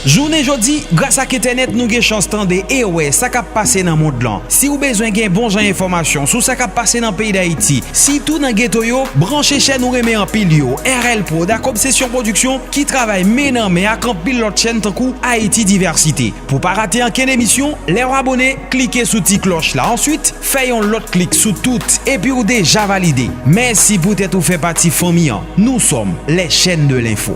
Jounen jodi, gras ak entènèt nou gen chans tande e wè sa k ap pase nan mond lan. Si w bezwen gen bon jan enfòmasyon sou sa k ap pase nan peyi Dayiti, sitou nan geto yo, branche chèn ou renmen anpil yo, RL prod ak Obsesyon Pwodiksyon ki travay men nan men ak anpil lòt chèn tankou Ayiti Divèsite. Pou w pa rate ankenn emisyon, lè w abone, klike sou ti klòch la answit fè yon lòt klik sou tout epi w deja valide. Mèsi poutèt ou fè pati fanmi an. Nou sòm les chaines de l'info.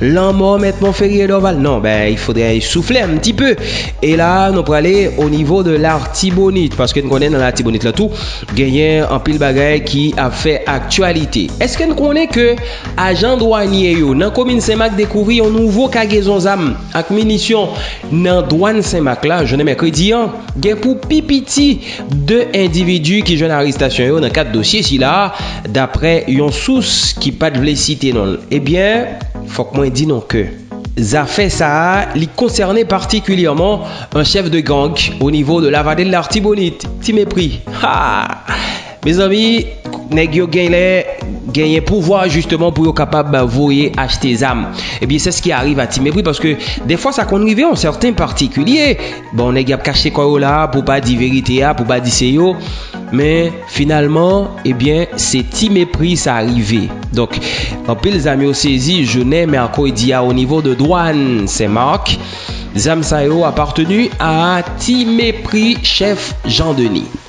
Lanmò mèt Monferrier Dorval non ben il faudrait souffler un petit peu e la nou prale au niveau de l'Artibonite paske n konnen nan l'Artibonite lan tou genyen anpil bagay ki ap fè aktyalite eske n konnen ke ajan dwanye yo nan komin Senmak dekouvri yon nouvo kagezon zam ak minisyon nan dwàn Senmak la jounen mèkredi an gen pou pi piti 2 endividi ki jwenn arestasyon yo nan kad dosye sila, daprè yon sous ki pat vle site non l. Ebyen, fòk mwen di nou ke zafè sa a li konsène patikilyèman yon chèf de gang o nivo de Lavadel de Lartibonit, Ti Mepri. Haa! Mezanmi, nèg yo genlè genyen pouvwa jisteman pou yo kapab voye achte zam. Ebyen, sè ski ariv a Ti Mepri paske dèfwa sa konn rive yon sèten patikilye. Bon nèg yap kache kò yo la pou pa di verite a, pou pa di se yo, men finalman ebyen eh se ti mepri sa rive. Donk anpil zam yo sezi jounen mèkredi a o nivo de dwàn Sen Mak, zam sa yo aparteni a ti mepri chèf Jan Deni.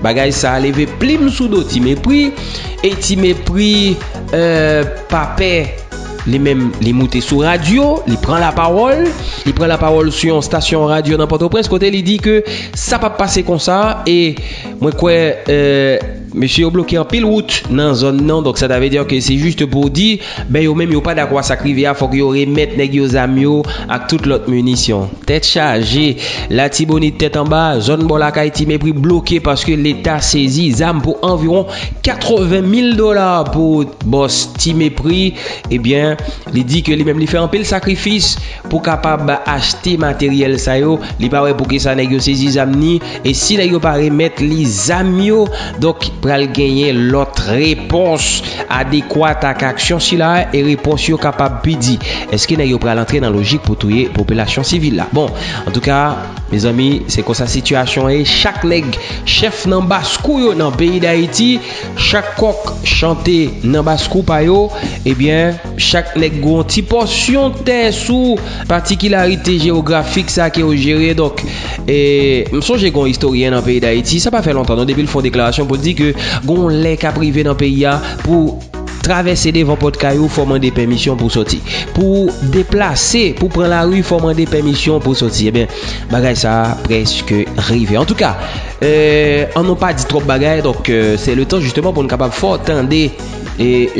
Bagay sa leve plim sou do Ti Mepri e Ti Mepri pa pè li menm li moute sou radyo, li pran lapawòl, li pran lapawòl sou yon stasyon radyo nan Pòtoprens kote li di ke sa pap pase konsa e mwen kwè mesye yo bloke anpil wout nan zòn nan donk sa ta vle di ke se jis pou di. Men yo menm yo pa dakò a sa k rive a, fòk yo remèt nèg yo zam yo ak tout lòt minisyon. Tèt chaje! Latibonit tèt anba, zòn bò lakay Ti Mepri bloke paske Leta sezi zam pou anviwon 80 mil dola pou bòs Ti Mepri. Ebyen, li di ke li menm li fè anpil sakrifis pou kapab achte materyèl sa yo, li pa wè poukisa nèg yo sezi zam ni, e si nèg yo pa remèt li zam yo, donk pral genyen lòt repons adekwat ak aksyon sila a, e repons yo kapab pi di. Eske nèg yo pral antre nan lojik pou touye popilasyon sivil la? Bon, antouka, mezanmi, se konsa sitiyasyon an ye, chak nèg chèf nan bas kou yo nan peyi Dayiti, Chak kòk chante nan baskou pa yo, ebyen chak nèg gou yon ti pòsyon tè sou patikilarite jewografik sa ke yo jere donk e m sonje gon istoryen nan peyi dayiti sa pa fè lontan non depi l fon deklarasyon pou l di ke gon lè kap rive nan peyi a pou travèse devan pòt kay ou fò mande pèmisyon pou sòti pou deplase pou pran lari fò mande pèmisyon pou sòti ebyen bagay sa prèske rive antouka Euh an nou pa di trop bagay donk se le tan jisteman pou nou kapab fè w tande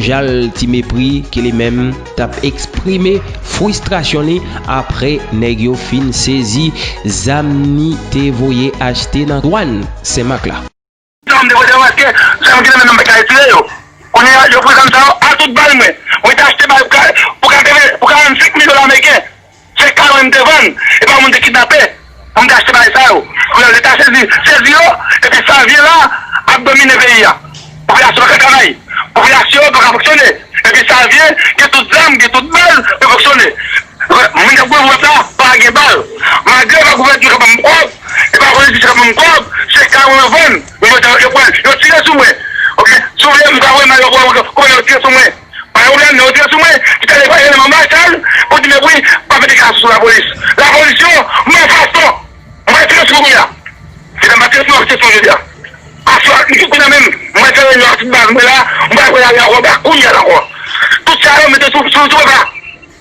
jan ti mepri ki li menm t ap eksprime fwistrasyon li apre nèg yo fin sezi zam ni te voye achte nan dwann senmak la. Zam de volè yo eske zam ki nan men nou m pa ka itilize yo kounye a yo pran zam sa yo a tout bal mwen mwen te achte bal pou 45 mil dola ameriken. Se karo m te vann epi yon moun te kidnape pou m te achte bagay sa yo. Kounye a leta sezi, sezi yo epi savyen la ap domine peyi a. Popilasyon pa ka travay, popilasyon pa ka fonksyone epi savyen gen tout zam, gen tout bal pou yo fonksyone. Moun k ap goumen pou pèp la pa gen bal. Malgre pa gouvènman k ap ban m kòb e pa politisyen k ap ban m kòb, se karo yo vann. Yo pran, yo tire sou mwen. Ok, si w vle m ka voye imaj la pou w wè kouman yo tire sou mwen. Bay ou lèl lè ou tire sou mwen ou tale bay eleman marshall pou di mèt wi pa fè deklarasyon sou lapolis lapolis yo malfason mwen pral tire sou ou kounya se lèm pa tire sou nou ap tire sou nou jodia aswè a isit kounya menm mwen fè reunion ak tout baz mwen la mwen pral pran lari ankò mwen pral kounyèl ankò tout sa yo mete sou sou papa.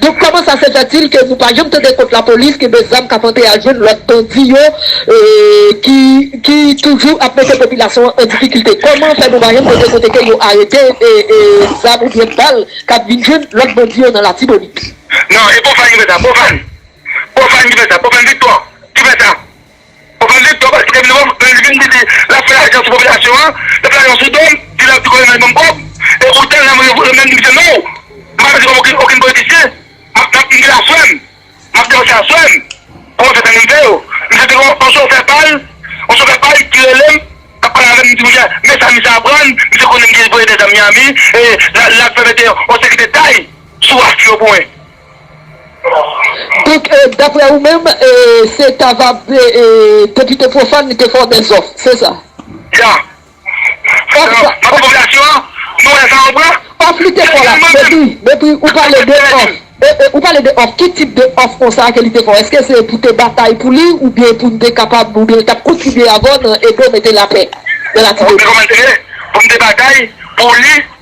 Donk kòman sa se fèt il ke nou pa janm tande kont lapolis genbe zam kap antre al jwenn lòt bandi yo ki ki toujou ap mete popilasyon an an difikilte kòman fè nou pa janm tande kote ke yo arete zam ou byen bal kap vin jwenn lòt bandi yo nan latibonit. Non e pwofàn ki fè sa pwofàn pwofàn ki fè sa pwofàn viktò ki fè sa. Ou pa met dò bay Frèm non, lè li vin di li lap fè lajan sou popilasyon an, lap fè lajan sou dò m, di lap di konnen nan banm kòb, e poutan lè mwen voye menm di misye non, m pa pèdi kòb okenn politisyen, map map m gen la frèm, map depanse a frèm, pou mwen fè sa menm fè yo, misye te gen yon chofè pal, yon chofè pal ki rele m, kap pale avè m, m di misye men sa misye aprann, misye konnen m gen voye dè zam Miami, e lap fè mete yon sekirite tay sou waf yo pou mwen. Pic, Daprè ou menm, se ta va depite pwofàn li te fè w bèl zòf, se sa? Ya. Papa popilasyon an, nou wè sa ou pran? Òf li te fè w la, Mepri, Mepri, ou pale de òf, ou pale de òf, ki tip de òf konsa ke li te fè w? Eske se pou te batay pou li oubyen pou n te kapab, oubyen li t ap kontribye avè w nan ede w mete lapè nan Latibonit? Ou konnen kòman l te ye? Pou m te batay pou li.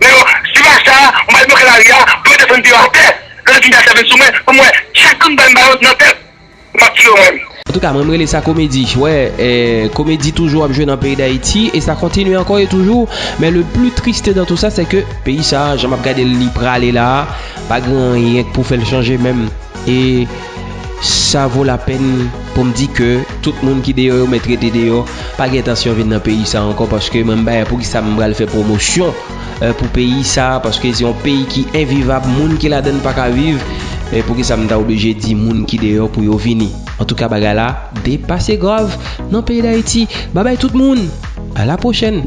Men yo si ma sa mwen al bloke lari a pou yo desann pye yo atè lè yo fin fè sèvis sou mwen pou mwen chak kout bal m bayo nan tèt map tire yo mwen. Antouka mwen m rele sa komedi wè komedi toujou ap jwe nan peyi dayiti e sa kontinye ankò e toujou men le pli triste dan tou sa se ke peyi sa jan map gadel li prale la pa gen anyen k pou fèl chanje menm e Sa vo la pèn pou m di ke tout moun ki deyò yo mèt rete deyò, pa gen entansyon vin nan peyi sa ankò paske mwen m bay a poukisa m pral fè pwomosyon pou peyi sa paske se yon peyi ki envivab moun ki ladan l pa ka viv e poukisa m ta oblije di moun ki deyò pou yo vini. Antouka bagay la depase grav nan peyi Dayiti. Babay tout moun! A la pwochèn!